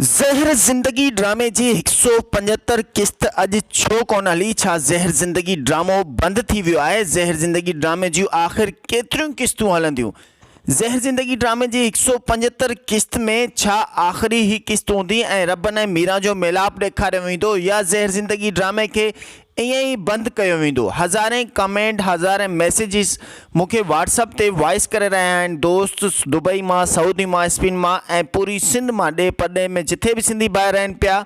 زهر زندگي ڊرامي جي هڪ سؤ پنجهتر قسط اڄ ڇو ڪونه هلي؟ ڇا زهر زندگي ڊرامو بند ٿي ويو آهي؟ زهر زندگي ڊرامي جون آخر ڪيتريون قسطون هلنديون؟ زهر زندگي ڊرامي جي هڪ سؤ پنجهتر قسط ۾ ڇا آخري هي قسط هوندي ۽ ربن ۽ ميران جو ميلاپ ڏيکاريو ويندو يا زهر زندگي ڊرامي کي ائين ئي بند ڪيو ويندو. هزارين ڪمينٽ هزارين ميسيجز مون کي واٽس اپ تي وائس ڪري رهيا آهن دوست دبئي مان سعودي مان اسپين مان ۽ پوري سنڌ مان ڏيهه پرڏيهه ۾ جٿي به سنڌي ڀائر رهن پيا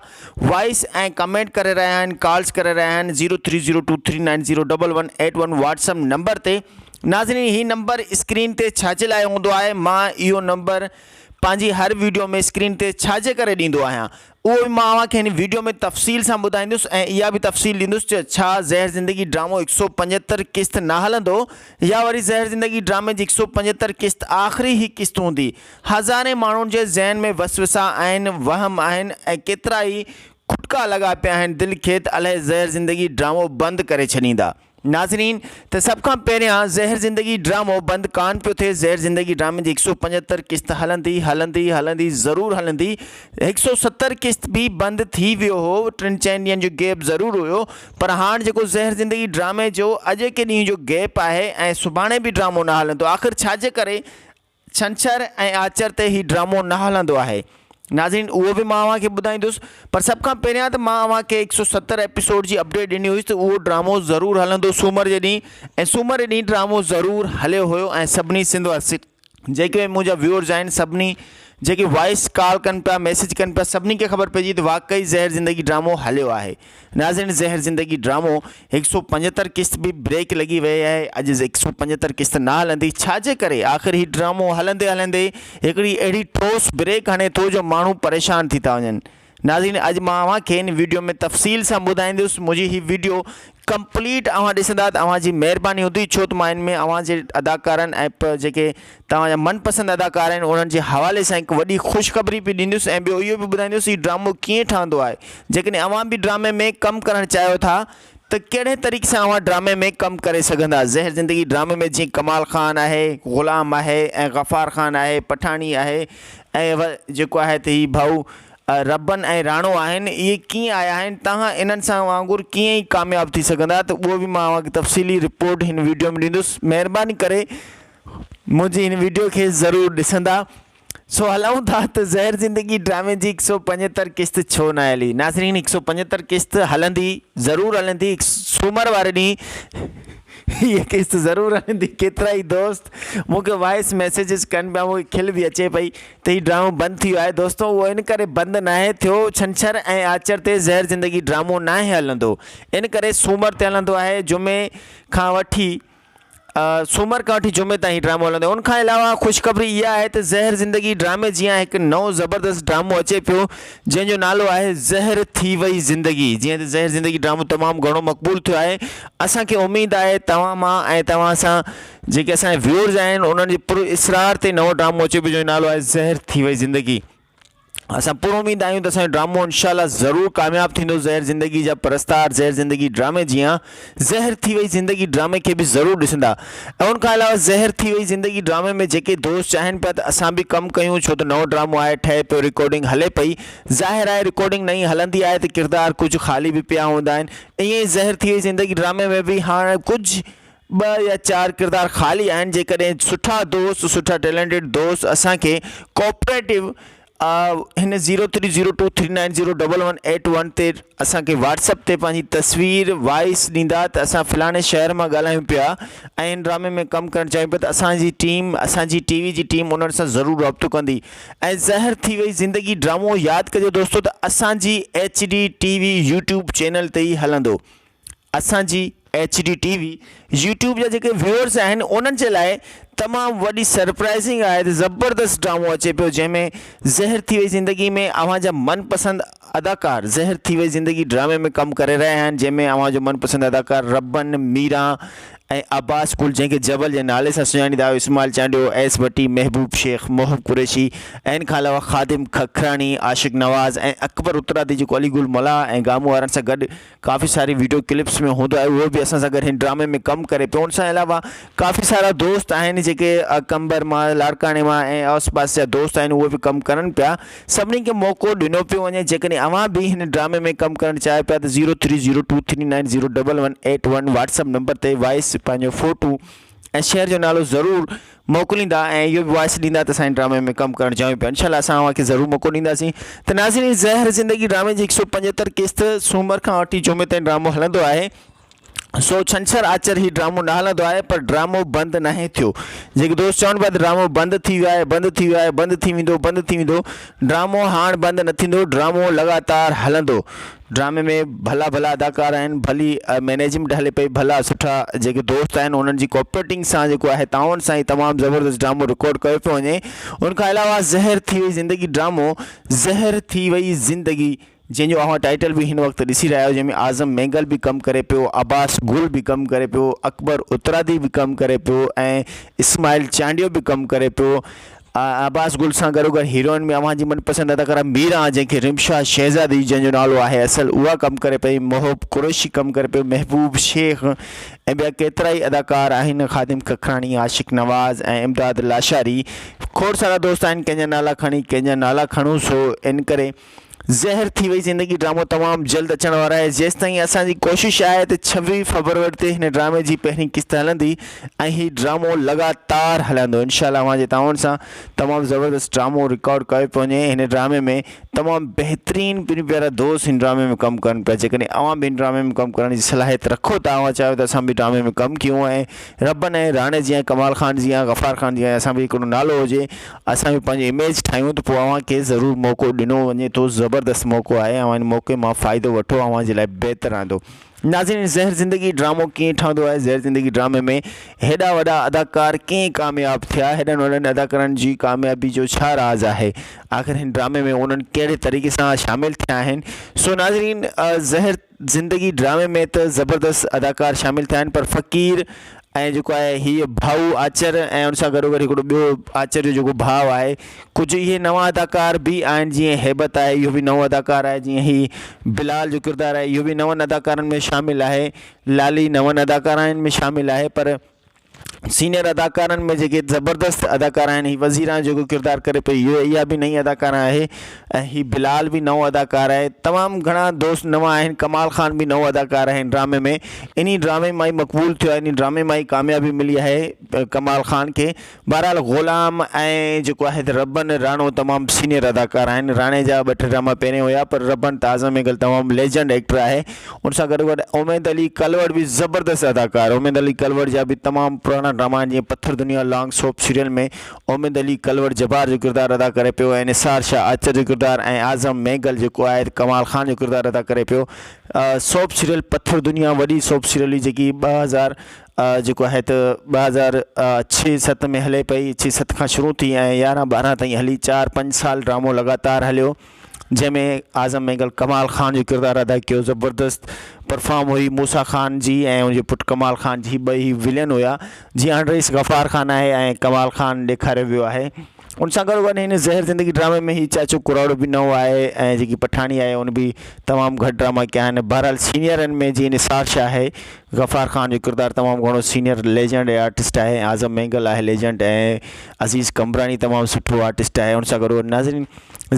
وائس ۽ ڪمينٽ ڪري رهيا آهن ڪالز ڪري رهيا آهن zero three zero two three nine zero double one eight one WhatsApp number تي ناظرين هي نمبر اسڪرين تي ڇاجي لاء هوندو آهي مان اهو نمبر پنهنجي هر ويڊيو ۾ اسڪرين تي ڇاجي ڪري ڏيندو آهيان اهو به مان اوهان کي هن ويڊيو ۾ تفصيل سان ٻڌائيندس ۽ اها به تفصيل ڏيندس ته ڇا زهر زندگي ڊرامو هڪ سؤ پنجهتر قسط نه هلندو يا وري زهر زندگي ڊرامي جي هڪ سؤ پنجهتر قسط آخري هي قسط هوندي هزارين ماڻهن جي ذهن ۾ وسوسا آهن وهم آهن ۽ ڪيترائي کٽڪا لڳا پيا آهن دل کيت الهي زهر زندگي ڊرامو بند ڪري ڇڏيندا. ناظرين ته سڀ کان پهريان زهر زندگي ڊرامو بند ڪان پيو ٿئي زهر زندگي ڊرامي جي هڪ سو پنجهتر قسط هلندي هلندي هلندي ضرور هلندي هڪ سو ستر قسط به بند ٿي ويو هو ٽن چئن ڏينهن جو گيپ ضرور هيو پر هاڻ جيڪو زهر زندگي ڊرامي جو اڄ ڪي ڏينهن جو گيپ آهي ۽ سڀاڻي به ڊرامو نه هلندو آخر ڇاجي ڪري ڇنڇر ۽ آچر تي هي ڊرامو نه هلندو آهي ناظرين اهو به مان اوهان کي ٻڌائيندس پر سڀ کان پهريان ته مان اوهان کي هڪ سؤ ستر ايپيسوڊ جي اپڊيٽ ڏني هئي ته اهو ڊرامو ضرور هلندو سومر جي ڏينهن ۽ سومر جي ڏينهن ڊرامو ضرور هليو هيو ۽ سڀني سنڌ جيڪي به منهنجا ويورز آهن سڀني جيڪي وائس ڪال ڪن پيا ميسيج ڪن پيا سڀني کي خبر پئجي ته واقعي زهر زندگي ڊرامو هليو آهي. ناظرين زهر زندگي ڊرامو هڪ سؤ پنجهتر قسط به بريڪ لڳي ويئي آهي اڄ هڪ سؤ پنجهتر قسط نه هلندي ڇا جي ڪري آخر هي ڊرامو هلندي هلندي هڪڙي اهڙي ٺوس بريڪ هڻي ٿو جو ماڻهو پريشان ٿي ٿا وڃن ناظرين اڄ مان اوهان کي هن ويڊيو ۾ تفصيل سان ٻڌائيندس منهنجي هي ويڊيو ڪمپليٽ اوهان ڏسندا ته اوهان جي مهرباني هوندي ڇو ته مان هن ۾ اوهان جي اداڪارن ۽ پ جيڪي توهان جا من پسند اداڪار آهن انهن جي حوالي سان هڪ وڏي خوشخبري به ڏيندس ۽ ٻيو اهو به ٻڌائيندس هي ڊرامو ڪيئن ٺهندو آهي جيڪڏهن اوهان به ڊرامي ۾ ڪم ڪرڻ چاهيو ٿا ته ڪهڙي طريقي سان اوهان ڊرامي ۾ ڪم ڪري سگهندا زهر زندگي ڊرامي ۾ جيئن ڪمال خان آهي غلام آهي ۽ غفار خان آهي پٺاڻي آهي ۽ جيڪو آهي ته هي ڀائو ربن ۽ راڻو آهن اهي ڪيئن آيا آهن توهان انهن سان وانگر ڪيئن ڪامياب ٿي سگهندا ته اهو به مان اوهان کي تفصيلي رپورٽ هن ويڊيو ۾ ڏيندس مهرباني ڪري منهنجي هن ويڊيو کي ضرور ڏسندا. سو هلائون ٿا ته زهر زندگي ڊرامي جي هڪ سؤ پنجهتر قسط ڇو نه هلي. ناظرين هڪ سؤ پنجهتر قسط هلندي ضرور هلندي هڪ سومر واري ڏينهن هيء قسط ضرور هلندي ڪيترائي دوست مون کي وائس ميسيجز ڪن پيا مون کي کل به اچي پئي ته هي ڊرامو بند ٿي ويو آهي دوستو اهو ان ڪري بند ناهي ٿيو ڇنڇر ۽ آچر تي زهر زندگي ڊرامو ناهي هلندو ان ڪري سومر تي هلندو آهي جمعي کان وٺي سومر کان وٺي جمعي تائين هي ڊرامو هلندو ان کان علاوه خوشخبري اها آهي ته زهر زندگي ڊرامي جيان هڪ نئون زبردست ڊرامو اچي پيو جنهن جو نالو آهي زهر ٿي وئي زندگي جيئن ته زهر زندگي ڊرامو تمام گهڻو مقبول ٿيو آهي اسان کي اميد آهي توهان مان ۽ توهان سان جيڪي اسان جا ويورز آهن انهن جي پر اسرار تي نئون ڊرامو اچي پيو جنهن جو نالو آهي زهر ٿي وئي زندگي اسان پوره اميد آهيون ته اسانجو ڊرامو انشاء الله ضرور ڪامياب ٿيندو زهر زندگي جا پرستار زهر زندگي ڊرامي جيان زهر ٿي وئي زندگي ڊرامي کي به ضرور ڏسندا ۽ ان کان علاوه زهر ٿي وئي زندگي ڊرامي ۾ جيڪي دوست چاهين پيا ته اسان به ڪم ڪيون ڇو ته نئون ڊرامو آهي ٺهي پيو رڪارڊنگ هلي پئي ظاهر آهي رڪارڊنگ نئين هلندي آهي ته ڪردار ڪجهه خالي به پيا هوندا آهن ائين ئي زهر ٿي وئي زندگي ڊرامي ۾ به هاڻ ڪجهه ٻه يا چار ڪردار خالي آهن جيڪڏهن سٺا دوست سٺا ٽيلنٽيڊ دوست اسان کي ڪوپريٽو هن zero three zero two three nine zero double one eight one تي اسان کي واٽس اپ تي پنهنجي تصوير وائس ڏيندا ته اسان فلاڻي شهر مان ڳالهايون پيا ۽ هن ڊرامي ۾ ڪم ڪرڻ چاهيون پيا ته اسانجي ٽيم اسانجي ٽي وي جي ٽيم انهن سان ضرور رابطو ڪندي ۽ زهر ٿي وئي زندگي ڊرامو ياد ڪجو دوستو ته اسانجي H D T V YouTube channel تي ئي هلندو اسان جي H D T V YouTube جا جيڪي ويورس آهن انهن جي لاء تمام وڏي سرپرائزنگ آهي ته زبردست ڊرامو اچي پيو جنهن ۾ زهر ٿي وئي زندگي ۾ اوهان جا من پسند اداڪار زهر ٿي وئي زندگي ڊرامي ۾ ڪم ڪري رهيا آهن جنهن ۾ اوهان جو من پسند اداڪار ربن ميران ۽ عباس ڪل جنهن کي جبل جي نالي سان سڃاڻيندا آهيو اسماعيل چانڊيو ايس ڀٽي محبوب شيخ محب قريشي ۽ ان کان علاوه خادم ککراڻي عاشق نواز ۽ اڪبر اترادي جيڪو علي گل ملاح ۽ گامو وارن سان گڏ ڪافي ساري ويڊيو ڪلپس ۾ هوندو آهي اهو به اسان سان گڏ هن ڊرامي ۾ ڪم ڪري پيو ان سان علاوه ڪافي سارا دوست آهن جيڪي قمبر مان لاڙڪاڻي مان ۽ آس پاس جا دوست آهن اهي به ڪم ڪرن پيا سڀني کي موقعو ڏنو پيو وڃي جيڪڏهن اوهان به هن ڊرامي ۾ ڪم ڪرڻ چاهيو پيا ته zero three zero two three nine zero double one eight one WhatsApp number تي وائس پنهنجو فوٽو ۽ شهر جو نالو ضرور موڪليندا ۽ اهو به وائس ڏيندا ته سائين ڊرامي ۾ ڪم ڪرڻ چاهيون پيا انشاء الله اسان اوهان کي ضرور موقعو ڏينداسين ته ناظرين زهر زندگي ڊرامي جي هڪ سو پنجهتر قسط سومر کان وٺي جمعي تائين ڊرامو هلندو آهي سو ڇنڇر آچر هي ڊرامو نه هلندو آهي پر ڊرامو بند ناهي ٿيو جيڪي دوست چون پيا ته ڊرامو بند ٿي ويو آهي بند ٿي ويو آهي بند ٿي ويندو بند ٿي ويندو ڊرامو هاڻ بند نه ٿيندو ڊرامو لڳاتار هلندو ڊرامي ۾ ڀلا ڀلا اداڪار آهن ڀلي مينجمينٽ هلي پئي ڀلا سٺا جيڪي دوست آهن انهن جي ڪوپريٽنگ سان جيڪو آهي تعاون سان هي تمام زبردست ڊرامو رڪارڊ ڪيو پيو وڃي ان کان علاوه زهر ٿي وئي زندگي ڊرامو زهر ٿي وئي زندگي جنهن جو اوهان ٽائيٽل به هن وقت ڏسي رهيا آهيو جنهن ۾ اعظم مينگل به ڪم ڪري پيو عباس گل به ڪم ڪري پيو اڪبر اترادي به ڪم ڪري پيو ۽ اسماعيل چانڊيو به ڪم ڪري پيو عباس گل سان گڏوگڏ هيروئن ۾ اوهان جي من پسند اداڪاره ميرا آن جنهن کي رمشا شهزادي جنهن جو نالو آهي اصل اها ڪم ڪري پئي، محب قريشي ڪم ڪري پيو، محبوب شيخ ۽ ٻيا ڪيترائي اداڪار آهن، خادم ککراڻي، عاشق نواز ۽ امداد لاشاري کوڙ سارا دوست آهن ڪنهن جا نالا کڻي ڪنهن جا نالا کڻون سو انڪري زهر ٿي وئي زندگي ڊرامو تمام جلد اچڻ وارا آهي جيستائين اسان جي ڪوشش آهي ته ڇويهه فبروري تي هن ڊرامي جي پهرين قسط هلندي ۽ هي ڊرامو لڳاتار هلندو انشاء الله اوهان جي تعاون سان تمام زبردست ڊرامو رڪارڊ ڪيو پيو وڃي هن ڊرامي ۾ تمام بهترين پنهنجا پيارا دوست هن ڊرامي ۾ ڪم ڪن پيا جيڪڏهن اوهان به هن ڊرامي ۾ ڪم ڪرڻ جي صلاحيت رکو ٿا اوهان چاهيو ته اسان به ڊرامي ۾ ڪم ڪيون ۽ ربن ۽ راڻي جيان ڪمال خان جيان غفار خان جيان اسان به هڪڙو نالو هجي اسان به پنهنجي اميج ٺاهيون ته پوء اوهان کي ضرور موقعو ڏنو وڃي ٿو زبردست موقعو آهي اوهان ان موقعي مان فائدو وٺو اوهان جي لاء بهتر رهندو ناظرين زهر زندگي ڊرامو ڪيئن ٺهندو آهي زهر زندگي ڊرامي ۾ هيڏا وڏا اداڪار ڪيئن ڪامياب ٿيا هيڏن وڏن اداڪارن جي ڪاميابي جو ڇا راز آهي آخر هن ڊرامي ۾ انهن ڪهڙي طريقي سان شامل ٿيا آهن سو ناظرين زهر زندگي ڊرامي ۾ ته زبردست اداڪار شامل ٿيا آهن پر فقير ۽ جيڪو آهي هيء ڀائو آچر ۽ ان سان گڏوگڏ هڪڙو ٻيو آچر جو جيڪو ڀاء آهي ڪجهه اهي نوان اداڪار به آهن جيئن هيبت آهي اهو به نئون اداڪار آهي جيئن هي بلال جو ڪردار آهي اهو به نون اداڪارن ۾ شامل آهي لالي نون اداڪارائن ۾ شامل آهي پر سينئر اداڪارن ۾ جيڪي زبردست اداڪار آهن هي وزير آهي جيڪو ڪردار ڪري پئي هيء اها به نئين اداڪار آهي ۽ هي بلال به نئون اداڪار آهي تمام گهڻا دوست نوان آهن ڪمال خان به نئون اداڪار آهي هن ڊرامي ۾ انهي ڊرامي مان ئي مقبول ٿيو آهي انهي ڊرامي مان ئي ڪاميابي ملي آهي ڪمال خان کي بهرحال غلام ۽ جيڪو آهي ته ربن راڻو تمام سينئر اداڪار آهن راڻي جا ٻه ٽي ڊراما پهرين هيا پر ربن ته اعظم اينگل تمام ليجنڊ ايڪٽر آهي ان سان گڏ گڏ اميد علي ڪلوڙ به زبردست اداڪار اميد علي ڪلوڙ جا به تمام پراڻا ڊراما آهن جيئن Pathar Duniya long soap serial ۾ Umeed Ali Kalhoro Jabbar جو ڪردار ادا ڪري پيو ۽ نثار شاهه آچر جو ڪردار ۽ اعظم مينگل جيڪو آهي ته ڪمال خان جو ڪردار ادا ڪري پيو سوپ سيريل پٿر دنيا وڏي سوپ سيريل هئي جيڪي ٻه هزار جيڪو آهي ته ٻه هزار ڇهه ست ۾ هلي پئي ڇهه ست کان شروع ٿي ۽ يارهن ٻارهن تائين هلي چار پنج سال ڊرامو لڳاتار هليو جنهن ۾ اعظم مينگل ڪمال خان جو ڪردار ادا ڪيو زبردست پرفام هئي موسيٰ خان جي ۽ ان جو پٽ ڪمال خان جي ٻئي ولين هيا جي آنڊريس غفار خان آهي ۽ ڪمال خان ڏيکاريو ويو آهي ان سان گڏو گڏ هن زهر زندگي ڊرامي ۾ هي چاچو ڪراڙو به نئون آهي ۽ جيڪي پٺاڻي آهي ان به تمام گهٽ ڊراما ڪيا آهن بهرحال سينئرن ۾ جيئن نثار شاهه آهي غفار خان جو ڪردار تمام گهڻو سينئر ليجنڊ آرٽسٽ آهي ۽ اعظم مينگل آهي ليجنڊ ۽ عزيز قمبراڻي تمام سٺو آرٽسٽ آهي ان سان گڏو گڏ ناظرين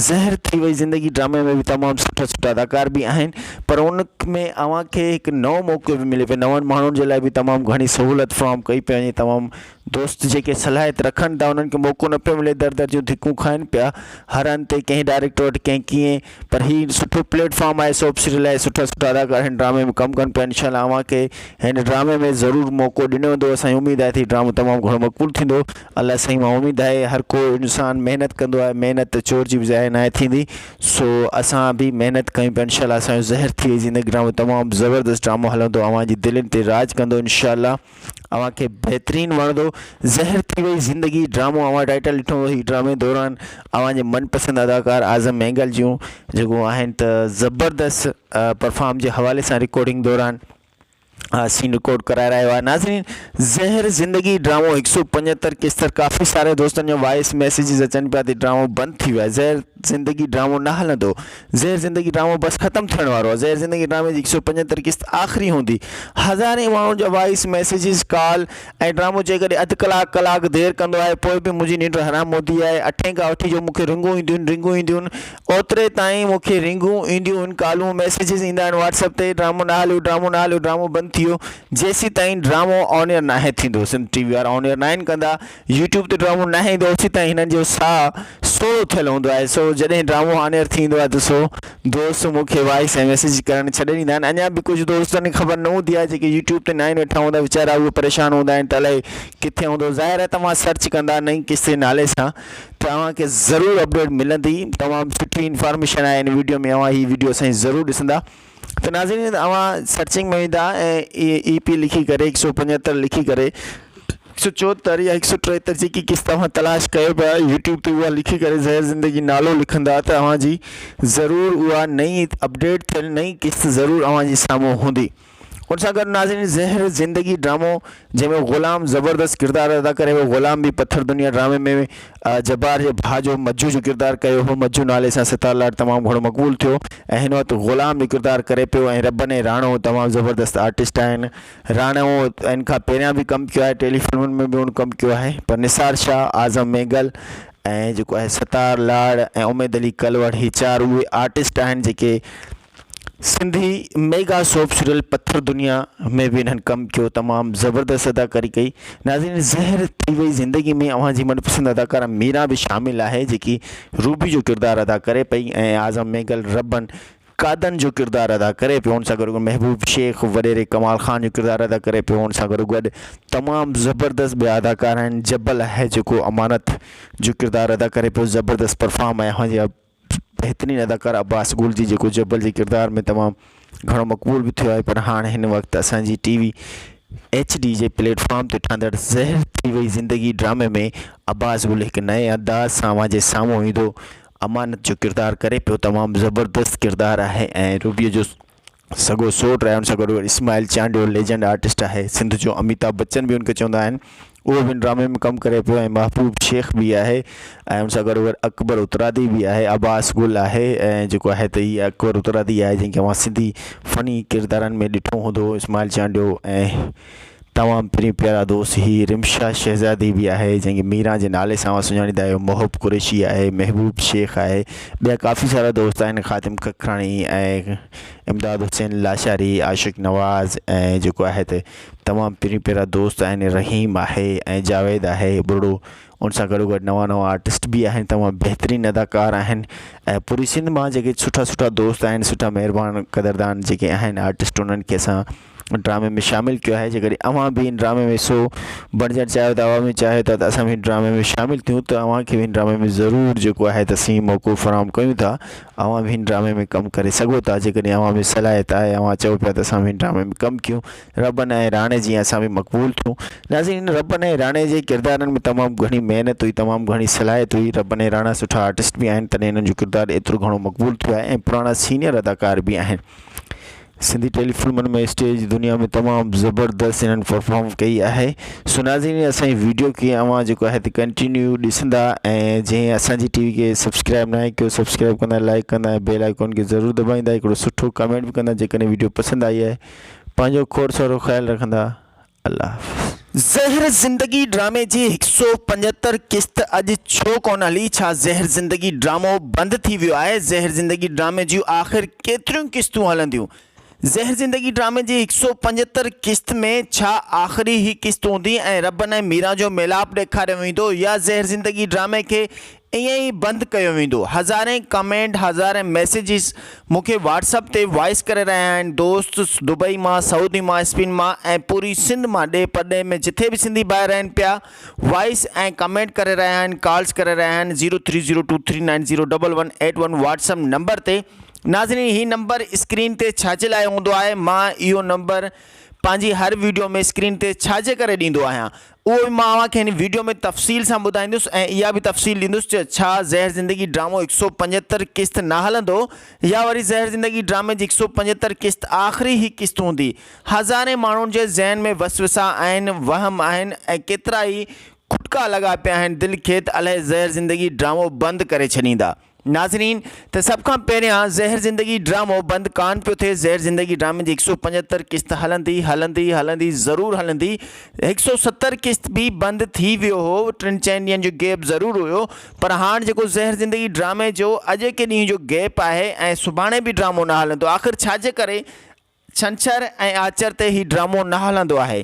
زهر ٿي وئي زندگي ڊرامي ۾ به تمام سٺا سٺا اداڪار به آهن پر ان ۾ اوهان کي هڪ نئون موقعو به ملي پيو نون ماڻهن جي لاء به تمام گهڻي سهولت فراهم ڪئي پئي وڃي تمام دوست جيڪي صلاحيت رکن ٿا انهن کي موقعو نه پيو ملي در در جون ڌڪون کائن پيا هر هنڌ ڪنهن ڊائريڪٽر وٽ ڪنهن ڪيئن پر هي سٺو پليٽ فارم آهي سوپ سيريل لاء سٺا سٺا اداڪار هن ڊرامي ۾ ڪم ڪن پيا انشاء الله اوهان کي هن ڊرامي ۾ ضرور موقعو ڏنو ويندو اسان کي اميد آهي ته هي ڊرامو تمام گهڻو مقبول ٿيندو الله سائين مان اميد آهي هر ڪو انسان محنت ڪندو آهي محنت چور جي به ضايع ناهي ٿيندي سو اسان به محنت ڪيون پيا انشاء الله اسان جو زهر ٿي وئي زندگي ڊرامو تمام زبردست ڊرامو هلندو اوهان جي دلين تي راڄ ڪندو انشاء الله. اوهان کي بهترين وڻندو زهر ٿي وئي زندگي ڊرامو اوهان ٽائٽل ڏٺو هي ڊرامي دوران اوهان جي من پسند اداڪار اعظم مينگل جون جيڪو آهن ته زبردست پرفارم جي حوالي سان رڪارڊنگ دوران سين رڪارڊ ڪرائي رهيو آهي ناظرين زهر زندگي ڊرامو هڪ سو پنجهتر قسط ڪافي ساري دوستن جو وائس ميسيجز اچن پيا ته ڊرامو بند ٿي ويو آهي زهر زندگي ڊرامو نه هلندو زهر زندگي ڊرامو بس ختم ٿيڻ وارو آهي زهر زندگي ڊرامي جي هڪ سؤ پنجهتر قسط آخري هوندي هزارين ماڻهن جا وائيس ميسيجز ڪال ۽ ڊرامو جيڪڏهن اڌ ڪلاڪ ڪلاڪ دير ڪندو آهي پوء به منهنجي ننڊ حرام هوندي آهي اٺين کان وٺي جو مون کي رنگون اينديون رنگون اينديون اوتري تائين مون کي رنگون اينديون ڪالون ميسيجز ايندا آهن واٽس اپ تي ڊرامو نه هليو ڊرامو نه هليو ڊرامو بند ٿي ويو جيسين تائين ڊرامو آن ايئر ناهي ٿيندو سنڌ ٽي وي وارا آن ايئر ناهن ڪندا يوٽيوب تي ڊرامو ناهي ايندو اوسين تائين هنن جو ساهه سوڙهو ٿيل هوندو آهي سو جڏهن ڊرامو آن ايئر ٿي ايندو آهي ته سو دوست مون کي وائس ۽ ميسيج ڪرڻ ڇڏي ڏيندا آهن اڃا به ڪجهه دوستن کي خبر نه هوندي آهي جيڪي يوٽيوب تي ناهن ويٺا هوندا ويچارا اهي پريشان هوندا آهن ته الائي ڪٿي هوندو ظاهر آهي توهان سرچ ڪندا نئين قصي نالي سان ته اوهان کي ضرور اپڊيٽ ملندي تمام سٺي انفارميشن آهي هن ويڊيو ۾ اوهان هي ويڊيو اسان جي ضرور ڏسندا ته ناظرين اوهان سرچنگ ۾ ويندا ۽ اي اي پي لکي ڪري هڪ سؤ پنجهتر لکي ڪري هڪ سؤ چوهتر يا هڪ سؤ ٽيهتر جيڪي قسط توهان تلاش ڪيو پيا يوٽيوب تي اوهان لکي ڪري زهر زندگي نالو لکندا ته اوهان جي ضرور اوها نئي اپڊيٽ ٿيل نئي قسط ضرور اوهان جي سامهون هوندي ان سان گڏ ناظرين زهر زندگي ڊرامو جنهن ۾ غلام زبردست ڪردار ادا ڪري هو غلام به پٿر دنيا ڊرامي ۾ جبار جي ڀاء جو مجو جو ڪردار ڪيو هو مجو نالي سان ستار لاٽ تمام گهڻو مقبول ٿيو ۽ هن وقت غلام جو ڪردار ڪري پيو ۽ ربن ۽ راڻو تمام زبردست آرٽسٽ آهن راڻو ان کان پهريان به ڪم ڪيو آهي ٽيلي فلمن ۾ به هن ڪم ڪيو آهي پر نثار شاهه اعظم مينگل ۽ جيڪو آهي ستار لاڙ ۽ اميد علي ڪلوڙ هي چار اهي آرٽسٽ آهن جيڪي Sindhi mega soap serial Pathar Duniya ۾ به انهن ڪم ڪيو تمام زبردست اداڪاري ڪئي ناظرين زهر ٿي وئي زندگي ۾ اوهان جي من پسند اداڪاره ميرا به شامل آهي جيڪي روبي جو ڪردار ادا ڪري پئي ۽ اعظم ميگل ربن قادن جو ڪردار ادا ڪري پيو ان سان گڏ محبوب شيخ وڏيري ڪمال خان جو ڪردار ادا ڪري پيو ان سان گڏو گڏ تمام زبردست ٻيا اداڪار آهن جبل آهي جيڪو امانت جو ڪردار ادا ڪري پيو زبردست پرفام ۽ اوهان جي بهترين اداڪار عباس گل جي جيڪو جبل جي ڪردار ۾ تمام گهڻو مقبول به ٿيو آهي پر هاڻ هن وقت اسان جي ٽي وي ايڇ ڊي جي پليٽ فارم تي ٺهندڙ زهر ٿي وئي زندگي ڊرامي ۾ عباس گل هڪ نئين انداز سان اوهان جي سامهون ايندو امانت جو ڪردار ڪري پيو تمام زبردست ڪردار آهي ۽ روبيء جو سگهو سوٽ رهيو ان سان گڏ اسماعيل چانڊيو ليجنڊ آرٽسٽ آهي سنڌ جو اميتاب بچن به انکي چوندا آهن اهو به ان ڊرامي ۾ ڪم ڪري پيو ۽ محبوب شيخ به آهي ۽ ان سان گڏ گڏ اڪبر اترادي به آهي عباس گل آهي ۽ جيڪو آهي ته هي اڪبر اترادي آهي جنکي اوهان سنڌي فني ڪردارن ۾ ڏٺو هوندو اسماعيل چانڊيو ۽ تمام پرين پيارا دوست هي رمشا شهزادي به آهي جنهن کي ميران جي نالي سان اوهان سڃاڻيندا آهيو محب قريشي آهي محبوب شيخ آهي ٻيا ڪافي سارا دوست آهن خادم ککراڻي ۽ امداد حسين لاشاري عاشق نواز ۽ جيڪو آهي ته تمام پرين پيارا دوست آهن رحيم آهي ۽ جاويد آهي ٻرڙو ان سان گڏو گڏ نوان نوان آرٽسٽ به آهن تمام بهترين اداڪار آهن ۽ پوري سنڌ مان جيڪي سٺا سٺا دوست آهن سٺا مهربان قدردان جيڪي آهن آرٽسٽ انهن کي اسان ڊرامي ۾ شامل ڪيو آهي جيڪڏهن اوهان به ان ڊرامي ۾ حصو بڻجڻ چاهيو ٿا اوهان به چاهيو ٿا ته اسان به ان ڊرامي ۾ شامل ٿيون ته اوهان کي به ان ڊرامي ۾ ضرور جيڪو آهي ته سين موقعو فراهم ڪيون ٿا اوهان به ان ڊرامي ۾ ڪم ڪري سگهو ٿا جيڪڏهن اوهان ۾ صلاحيت آهي اوهان چئو پيا ته اسان به ان ڊرامي ۾ ڪم ڪيون ربن ۽ راڻي جيان اسان به مقبول ٿيون ناظرين ان ربن ۽ راڻي جي ڪردارن ۾ تمام گهڻي محنت هئي تمام گهڻي صلاحيت هئي ربن ۽ راڻا سٺا آرٽسٽ به آهن تڏهن انهن جو ڪردار ايترو گهڻو مقبول ٿيو آهي ۽ پراڻا سينيئر اداڪار به آهن سنڌي ٽيلي فلمن ۾ اسٽيج جي دنيا ۾ تمام زبردست انهن پرفارم ڪئي آهي سو ناظرين اسان جي ويڊيو کي اوهان جيڪو آهي تي ڪنٽينيو ڏسندا ۽ جنهن اسان جي ٽي وي کي سبسڪرائب ناهي ڪيو سبسڪرائب ڪندا لائڪ ڪندا ۽ بيل آئيڪون کي ضرور دٻائيندا هڪڙو سٺو ڪمينٽ به ڪندا جيڪڏهن ويڊيو پسند آئي آهي پنهنجو کوڙ سارو خيال رکندا الله حافظ. زهر زندگي ڊرامي جي هڪ سؤ پنجهتر قسط اڄ ڇو ڪونه هلي؟ ڇا زهر زندگي ڊرامو بند ٿي ويو آهي؟ زهر زندگي ڊرامي جون آخر ڪيتريون قسطون هلنديون؟ زهر زندگي ڊرامي جي هڪ سؤ پنجهتر قسط ۾ ڇا آخري هي قسط هوندي ۽ ربن ۽ ميران جو ميلاپ ڏيکاريو ويندو يا زهر زندگي ڊرامي کي ائين ئي بند ڪيو ويندو. هزارين ڪمينٽ هزارين ميسيجز مون کي واٽس اپ تي وائس ڪري رهيا آهن دوست دبئي مان سعودي مان اسپين مان ۽ پوري سنڌ مان ڏي پرڏيهه ۾ جٿي به سنڌي ڀائر رهن پيا وائس ۽ ڪمينٽ ڪري رهيا آهن ڪالز ڪري رهيا آهن zero three zero two three nine zero double one eight one WhatsApp number تي ناظرين هي نمبر اسڪرين تي ڇاجي لاء هوندو آهي مان اهو نمبر پنهنجي هر ويڊيو ۾ اسڪرين تي ڇاجي ڪري ڏيندو آهيان اهو به مان اوهان کي هن ويڊيو ۾ تفصيل سان ٻڌائيندس ۽ اها به تفصيل ڏيندس ته ڇا زهر زندگي ڊرامو هڪ سؤ پنجهتر قسط نه هلندو يا وري زهر زندگي ڊرامي جي هڪ سؤ پنجهتر قسط آخري هي قسط هوندي هزارين ماڻهن جي ذهن ۾ وسوسا آهن وهم آهن ۽ ڪيترائي کٽڪا لڳا پيا آهن دل کيت الهي زهر زندگي ڊرامو بند ڪري ڇڏيندا. ناظرين ته سڀ کان پهريان زهر زندگي ڊرامو بند ڪان پيو ٿئي زهر زندگي ڊرامي جي هڪ سؤ پنجهتر قسط هلندي هلندي هلندي ضرور هلندي هڪ سؤ ستر قسط به بند ٿي ويو هو ٽن چئن ڏينهن جو گيپ ضرور هيو پر هاڻ جيڪو زهر زندگي ڊرامي جو اڄ ڪي ڏينهن جو گيپ آهي ۽ سڀاڻي به ڊرامو نه هلندو آخر ڇاجي ڪري ڇنڇر ۽ آچر تي هي ڊرامو نه هلندو آهي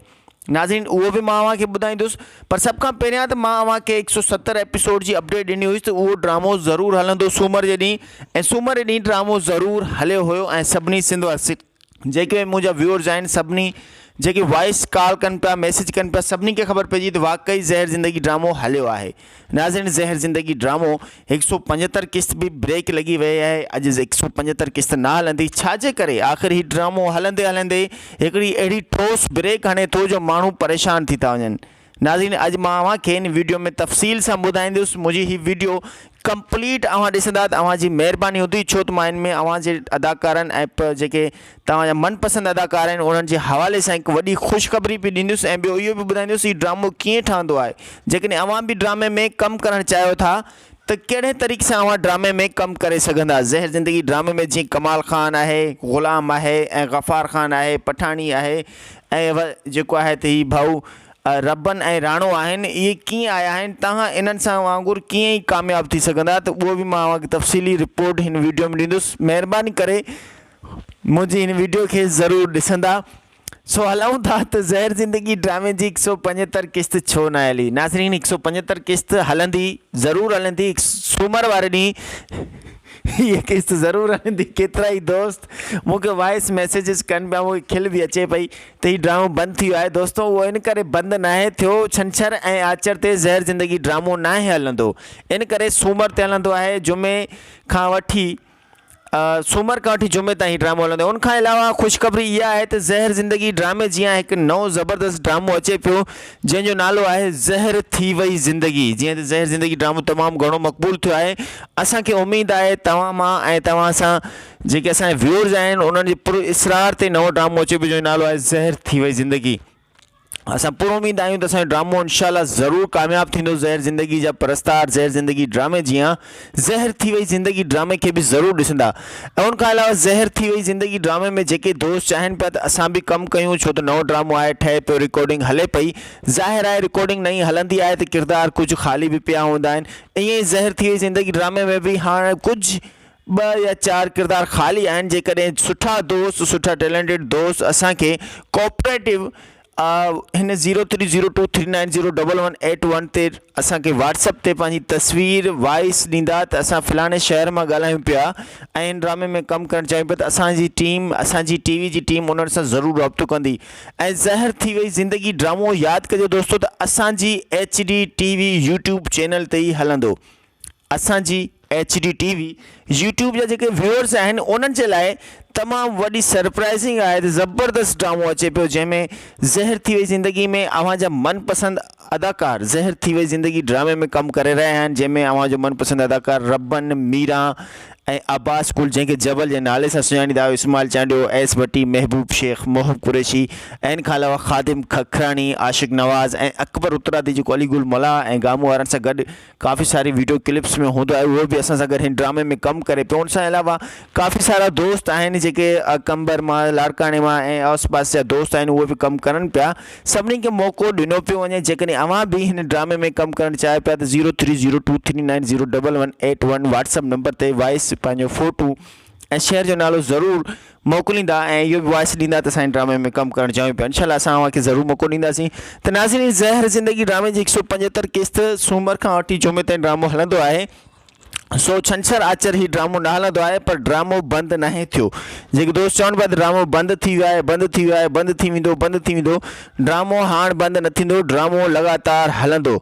ناظرين اهو به مان اوهان کي ٻڌائيندس پر سڀ کان پهريان ته مان اوهان کي هڪ سؤ ستر ايپيسوڊ جي اپڊيٽ ڏني هئي ته اهو ڊرامو ضرور هلندو سومر جي ڏينهن ۽ سومر جي ڏينهن ڊرامو ضرور هليو هيو ۽ سڀني سنڌ جيڪي منهنجا ويورز آهن سڀني جيڪي وائس ڪال ڪن پيا ميسيج ڪن پيا سڀني کي خبر پئجي ته واقعي زهر زندگي ڊرامو هليو آهي. ناظرين زهر زندگي ڊرامو هڪ سؤ پنجهتر قسط به بريڪ لڳي ويئي آهي اڄ هڪ سؤ پنجهتر قسط نه هلندي ڇاجي ڪري آخر هي ڊرامو هلندي هلندي هڪڙي اهڙي ٺوس بريڪ هڻي ٿو جو ماڻهو پريشان ٿي ٿا وڃن ناظرين اڄ مان اوهان کي هن ويڊيو ۾ تفصيل سان ٻڌائيندس منهنجي هي ويڊيو ڪمپليٽ اوهان ڏسندا ته اوهان جي مهرباني هوندي ڇو ته مان هن ۾ اوهان جي اداڪارن ۽ پ جيڪي توهان جا من پسند اداڪار آهن انهن جي حوالي سان هڪ وڏي خوشخبري به ڏيندس ۽ ٻيو اهو به ٻڌائيندس هي ڊرامو ڪيئن ٺهندو آهي جيڪڏهن اوهان به ڊرامي ۾ ڪم ڪرڻ چاهيو ٿا ته ڪهڙي طريقي سان اوهان ڊرامي ۾ ڪم ڪري سگهندا زهر زندگي ڊرامي ۾ جيئن ڪمال خان آهي غلام آهي ۽ غفار خان آهي پٺاڻي آهي ۽ جيڪو آهي ته هي ڀائو ربن ۽ راڻو آهن اهي ڪيئن آيا آهن توهان انهن سان وانگر ڪيئن ئي ڪامياب ٿي سگهندا ته اهو به مان اوهان کي تفصيلي رپورٽ هن ويڊيو ۾ ڏيندس مهرباني ڪري منهنجي هن ويڊيو کي ضرور ڏسندا. سو هلائون ٿا ته زهر زندگي ڊرامي جي هڪ سؤ پنجهتر قسط ڇو نه هلي. ناظرين هڪ سؤ پنجهتر قسط هلندي ضرور هلندي هڪ سومر واري ڏينهن هيء قسط ضرور هلندي ڪيترائي دوست مون کي وائس ميسيجز ڪن پيا مون کي کل به اچي پئي ته هي ڊرامو بند ٿي ويو آهي دوستو اهو ان ڪري بند ناهي ٿيو ڇنڇر ۽ آچر تي زهر زندگي ڊرامو ناهي هلندو ان ڪري سومر تي هلندو آهي جمعي کان وٺي سومر کان وٺي جمعي تائين هي ڊرامو هلندو ان کان علاوه خوشخبري اها آهي ته زهر زندگي ڊرامي جيان هڪ نئون زبردست ڊرامو اچي پيو جنهن جو نالو آهي زهر ٿي وئي زندگي جيئن ته زهر زندگي ڊرامو تمام گهڻو مقبول ٿيو آهي اسان کي اميد آهي توهان مان ۽ توهان سان جيڪي اسان جا ويورز آهن انهن جي پر اسرار تي نئون ڊرامو اچي پيو جنهن جو نالو آهي زهر ٿي وئي زندگي اسان پر اميد آهيون ته اسان جو ڊرامو انشاء الله ضرور ڪامياب ٿيندو زهر زندگي جا پرستار زهر زندگي ڊرامي جيان زهر ٿي وئي زندگي ڊرامي کي به ضرور ڏسندا ۽ ان کان علاوه زهر ٿي وئي زندگي ڊرامي ۾ جيڪي دوست چاهين پيا ته اسان به ڪم ڪيون ڇو ته نئون ڊرامو آهي ٺهي پيو رڪارڊنگ هلي پئي ظاهر آهي رڪارڊنگ نئين هلندي آهي ته ڪردار ڪجهه خالي به پيا هوندا آهن ائين ئي زهر ٿي وئي زندگي ڊرامي ۾ به هاڻ ڪجهه ٻه يا چار ڪردار خالي آهن جيڪڏهن سٺا دوست سٺا ٽيلنٽيڊ دوست اسان کي ڪوپريٽو هن zero three zero two three nine zero double one eight one تي اسان کي واٽسپ تي پنهنجي تصوير وائس ڏيندا ته اسان فلاڻي شهر مان ڳالهايون پيا ۽ هن ڊرامي ۾ ڪم ڪرڻ چاهيون پيا ته اسانجي ٽيم اسانجي ٽي وي جي ٽيم انهن سان ضرور رابطو ڪندي ۽ زهر ٿي وئي زندگي ڊرامو ياد ڪجو دوستو ته اسانجي H D T V YouTube channel تي ئي هلندو اسان جي H D T V YouTube جا جيڪي ويورس آهن انهن جي لاء تمام وڏي سرپرائزنگ آهي ته زبردست ڊرامو اچي پيو جنهن ۾ زهر ٿي وئي زندگي ۾ اوهان جا من پسند اداڪار زهر ٿي وئي زندگي ڊرامي ۾ ڪم ڪري رهيا آهن جنهن ۾ اوهان جو من پسند اداڪار ربن ميران ۽ عباس گل جنهن کي جبل جي نالي سان سڃاڻيندا آهيو اسماعيل چانڊيو ايس ڀٽي محبوب شيخ محب قريشي ان کان علاوه خادم ککراڻي عاشق نواز ۽ اڪبر اترادي جيڪو علي گل ملاح ۽ گامو وارن سان گڏ ڪافي ساري ويڊيو ڪلپس ۾ هوندو آهي اهو به اسان سان گڏ هن ڊرامي ۾ ڪم ڪري پيو ان سان علاوه ڪافي سارا دوست آهن جيڪي قمبر مان لاڙڪاڻي مان ۽ آس پاس جا دوست آهن اهي به ڪم ڪرن پيا سڀني کي موقعو ڏنو پيو وڃي جيڪڏهن اوهان به هن ڊرامي ۾ ڪم ڪرڻ چاهيو پيا ته zero three zero two three nine zero double one eight one WhatsApp number تي وائس پنهنجو فوٽو ۽ شهر جو نالو ضرور موڪليندا ۽ اهو به وائس ڏيندا ته سائين ڊرامي ۾ ڪم ڪرڻ چاهيون پيا انشاء الله اسان اوهان کي ضرور موقعو ڏينداسين ته ناظرين زهر زندگي ڊرامي جي هڪ سو پنجهتر قسط سومر کان وٺي جمعي تائين ڊرامو هلندو آهي سو ڇنڇر آچر هي ڊرامو نه هلندو آهي پر ڊرامو بند ناهي ٿيو جيڪي دوست چون پيا ته ڊرامو بند ٿي ويو آهي بند ٿي ويو آهي بند ٿي ويندو بند ٿي ويندو ڊرامو هاڻ بند نه ٿيندو ڊرامو لڳاتار هلندو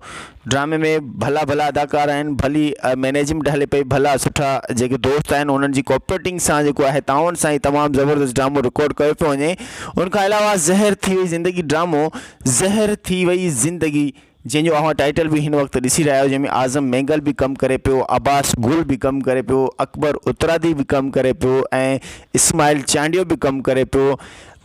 ڊرامي ۾ ڀلا ڀلا اداڪار آهن ڀلي مينيجمينٽ هلي پئي ڀلا سٺا جيڪي دوست آهن انهن جي ڪوپريٽنگ سان جيڪو آهي تعاون سان هي تمام زبردست ڊرامو رڪارڊ ڪيو پيو وڃي ان کان علاوه زهر ٿي وئي زندگي ڊرامو زهر ٿي وئي زندگي جنهن جو اوهان ٽائيٽل به هن وقت ڏسي رهيا آهيو جنهن ۾ اعظم مينگل به ڪم ڪري پيو عباس گل به ڪم ڪري پيو اڪبر اترادي به ڪم ڪري پيو ۽ اسماعيل چانڊيو به ڪم ڪري پيو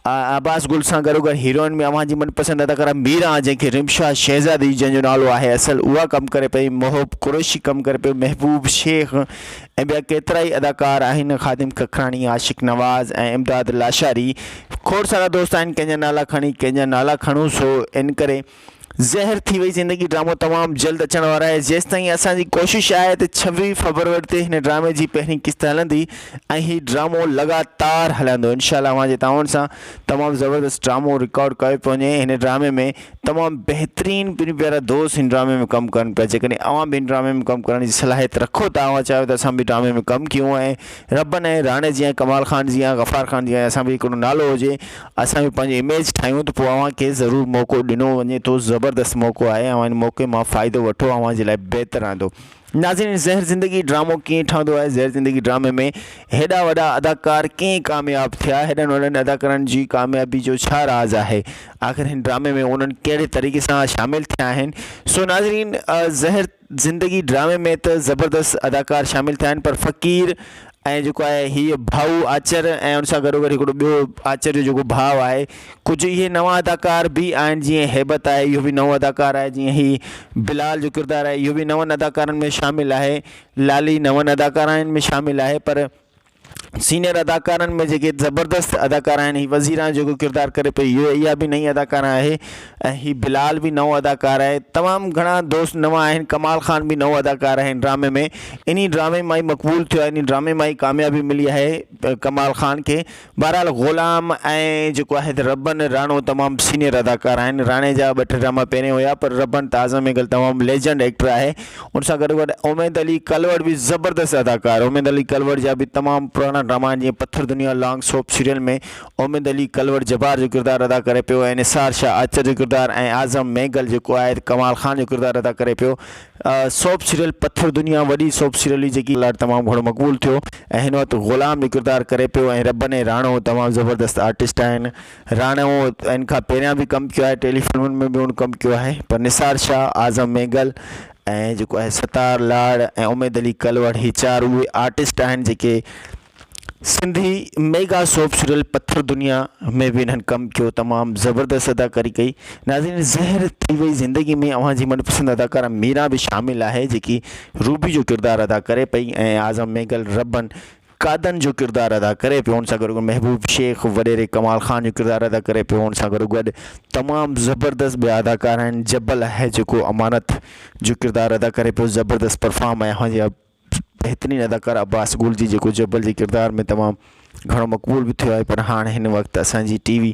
عباس گل سان گڏوگڏ هيروئن ۾ اوهان جي من پسند اداڪاره ميران جنهن کي رمشا شهزادي جنهن جو نالو آهي اصل اها ڪم ڪري پئي، محب قريشي ڪم ڪري پيو، محبوب شيخ ۽ ٻيا ڪيترائي اداڪار آهن، خادم ککراڻي، عاشق نواز ۽ امداد لاشاري کوڙ سارا دوست آهن ڪنهن جا نالا کڻي ڪنهن جا نالا کڻون سو انڪري زهر ٿي وئي زندگي ڊرامو تمام جلد اچڻ وارو آهي جيستائين اسان جي ڪوشش آهي ته ڇويهه فبروري تي هن ڊرامي جي پهرين قسط هلندي ۽ هي ڊرامو لڳاتار هلندو انشاء الله اوهان جي تعاون سان تمام زبردست ڊرامو رڪارڊ ڪيو پيو وڃي هن ڊرامي ۾ تمام بهترين پنهنجا پيارا دوست هن ڊرامي ۾ ڪم ڪن پيا جيڪڏهن اوهان به هن ڊرامي ۾ ڪم ڪرڻ جي صلاحيت رکو ٿا اوهان چاهيو ته اسان به ڊرامي ۾ ڪم ڪيون ۽ ربن ۽ راڻي جيان ڪمال خان جيان غفار خان جيان اسان به هڪڙو نالو هجي اسان به پنهنجي اميج ٺاهيون ته پوء اوهان کي ضرور موقعو ڏنو وڃي ٿو زبردست موقعو آهي اوهان ان موقعي مان فائدو وٺو اوهان جي لاء بهتر رهندو ناظرين زهر زندگي ڊرامو ڪيئن ٺهندو آهي زهر زندگي ڊرامي ۾ هيڏا وڏا اداڪار ڪيئن ڪامياب ٿيا هيڏن وڏن اداڪارن جي ڪاميابي جو ڇا راز آهي آخر هن ڊرامي ۾ انهن ڪهڙي طريقي سان شامل ٿيا آهن سو ناظرين زهر زندگي ڊرامي ۾ ته زبردست اداڪار شامل ٿيا آهن پر فقير ۽ جيڪو آهي هيء ڀائو آچر ۽ ان سان گڏوگڏ هڪڙو ٻيو آچر جو جيڪو ڀاء آهي ڪجهه اهي نوان اداڪار به آهن جيئن هيبت آهي اهو به نئون اداڪار آهي جيئن هي بلال جو ڪردار آهي اهو به نون اداڪارن ۾ شامل آهي لالي نون اداڪارائن ۾ شامل آهي پر سينئر اداڪارن ۾ جيڪي زبردست اداڪار آهن هي وزيرا جيڪو ڪردار ڪري پئي اهو اها به نئي اداڪار آهي ۽ هي بلال به نئون اداڪار آهي تمام گهڻا دوست نوان آهن ڪمال خان به نئون اداڪار آهي هن ڊرامي ۾ انهي ڊرامي مان ئي مقبول ٿيو آهي انهي ڊرامي مان ئي ڪاميابي ملي آهي ڪمال خان کي بهرحال غلام ۽ جيڪو آهي ته ربن راڻو تمام سينئر اداڪار آهن راڻي جا ٻه ٽي ڊراما پهرين هيا پر ربن ته اعظم مينگل تمام ليجنڊ ايڪٽر آهي ان سان گڏو گڏ اميد علي ڪلوڙ به زبردست اداڪار اميد علي ڪلوڙ جا به تمام پراڻا ڊراما آهن جيئن Pathar Duniya long soap serial ۾ Umeed Ali Kalhoro Jabbar جو ڪردار ادا ڪري پيو ۽ نثار شاھ آچر جو ڪردار ۽ اعظم مينگل جيڪو آهي ته ڪمال خان جو ڪردار ادا ڪري پيو سوپ سيريل پٿر دنيا وڏي سوپ سيريل هئي جيڪي لاء تمام گهڻو مقبول ٿيو ۽ هن وقت غلام جو ڪردار ڪري پيو ۽ ربني راڻو تمام زبردست آرٽسٽ آهن راڻو ان کان پهريان به ڪم ڪيو آهي ٽيلي فلمن ۾ به هن ڪم ڪيو آهي پر نثار شاهه اعظم مينگل ۽ جيڪو آهي ستار لاڙ ۽ اميد علي ڪلوڙ هي چار اهي آرٽسٽ آهن جيڪي Sindhi mega soap serial Pathar Duniya ۾ به انهن ڪم ڪيو تمام زبردست اداڪاري ڪئي ناظرين زهر ٿي وئي زندگي ۾ اوهان جي منپسند اداڪارا ميرا به شامل آهي جيڪي روبي جو ڪردار ادا ڪري پئي ۽ اعظم مينگل ربن قادن جو ڪردار ادا ڪري پيو ان سان گڏ محبوب شيخ وڏيري ڪمال خان جو ڪردار ادا ڪري پيو ان سان گڏو گڏ تمام زبردست ٻيا اداڪار آهن جبل آهي جيڪو امانت جو ڪردار ادا ڪري پيو زبردست پرفام ۽ هنجي بهترين اداڪار عباس گل جي جيڪو جبل جي ڪردار ۾ تمام گهڻو مقبول به ٿيو آهي پر هاڻ هن وقت اسان جي ٽي وي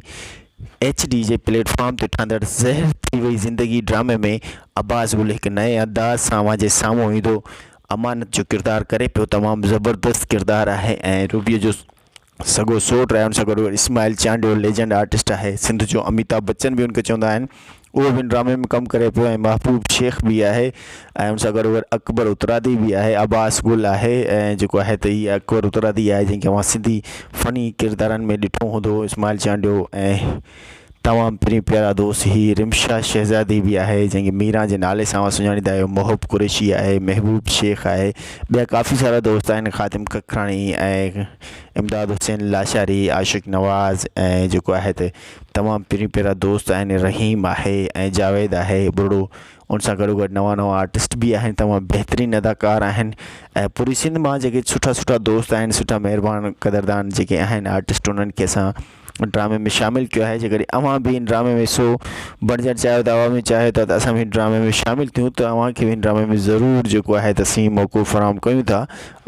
ايڇ ڊي جي پليٽ فارم تي ٺهندڙ زهر ٿي وئي زندگي ڊرامي ۾ عباس گل هڪ نئين انداز سان اوهان جي سامهون ايندو امانت جو ڪردار ڪري پيو تمام زبردست ڪردار آهي ۽ روبيء جو سڳو سوٽ رهيو ان سان گڏوگڏ اسماعيل چانڊيو ليجنڊ آرٽسٽ آهي سنڌ جو اميتاب بچن به ان کي چوندا آهن اهو به ان ڊرامي ۾ ڪم ڪري پيو ۽ محبوب شيخ به آهي ۽ ان سان گڏوگڏ اڪبر اترادي به آهي عباس گل آهي ۽ جيڪو آهي ته هي اڪبر اترادي آهي جنهن کي اوهان سنڌي فني ڪردارن ۾ ڏٺو هوندو اسماعيل چانڊيو ۽ تمام ترين پيارا دوست هي رمشا شهزادي به آهي جنهن کي ميران جي نالي سان اوهان سڃاڻيندا آهيو محب قريشي آهي محبوب شيخ آهي ٻيا ڪافي سارا دوست آهن خادم ککراڻي ۽ امداد حسين لاشاري عاشق نواز ۽ جيڪو آهي ته تمام پرين پيارا دوست آهن رحيم آهي ۽ جاويد آهي ٻرڙو ان سان گڏو گڏ نوان نوان آرٽسٽ به آهن تمام بهترين اداڪار آهن ۽ پوري سنڌ مان جيڪي سٺا سٺا دوست آهن سٺا مهربان قدردان جيڪي آهن آرٽسٽ انهن کي اسان ڊرامي ۾ شامل ڪيو آهي جيڪڏهن اوهان به ان ڊرامي ۾ حصو بڻجڻ چاهيو ٿا اوهان به چاهيو ٿا ته اسان به ان ڊرامي ۾ شامل ٿيون ته اوهان کي به ان ڊرامي ۾ ضرور جيڪو آهي ته سين موقعو فراهم ڪيون ٿا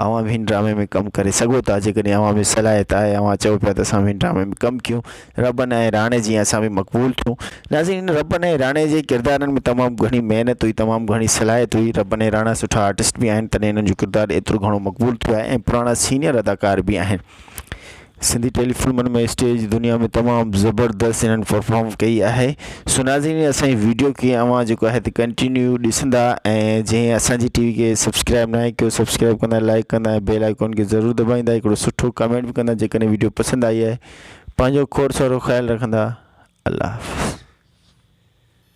اوهان به ان ڊرامي ۾ ڪم ڪري سگهو ٿا جيڪڏهن اوهان ۾ صلاحيت آهي اوهان چئو پيا ته اسان به ان ڊرامي ۾ ڪم ڪيون ربن ۽ راڻي جيان اسان به مقبول ٿيون ناظرين ان ربن ۽ راڻي جي ڪردارن ۾ تمام گهڻي محنت هئي تمام گهڻي صلاحيت هئي ربن ۽ راڻا سٺا آرٽسٽ به آهن تڏهن انهن جو ڪردار ايترو گهڻو مقبول ٿيو آهي ۽ پراڻا سينيئر اداڪار به آهن سنڌي ٽيلي فلمن ۾ اسٽيج جي دنيا ۾ تمام زبردست انهن پرفارم ڪئي آهي سو ناظرين اسان جي ويڊيو کي اوهان جيڪو آهي تي ڪنٽينيو ڏسندا ۽ جي اسان جي ٽي وي کي سبسڪرائب ناهي ڪيو سبسڪرائب ڪندا لائڪ ڪندا ۽ بيل آئيڪون کي ضرور دٻائيندا هڪڙو سٺو ڪمينٽ به ڪندا جيڪڏهن ويڊيو پسند آئي آهي پنهنجو کوڙ سارو خيال رکندا الله حافظ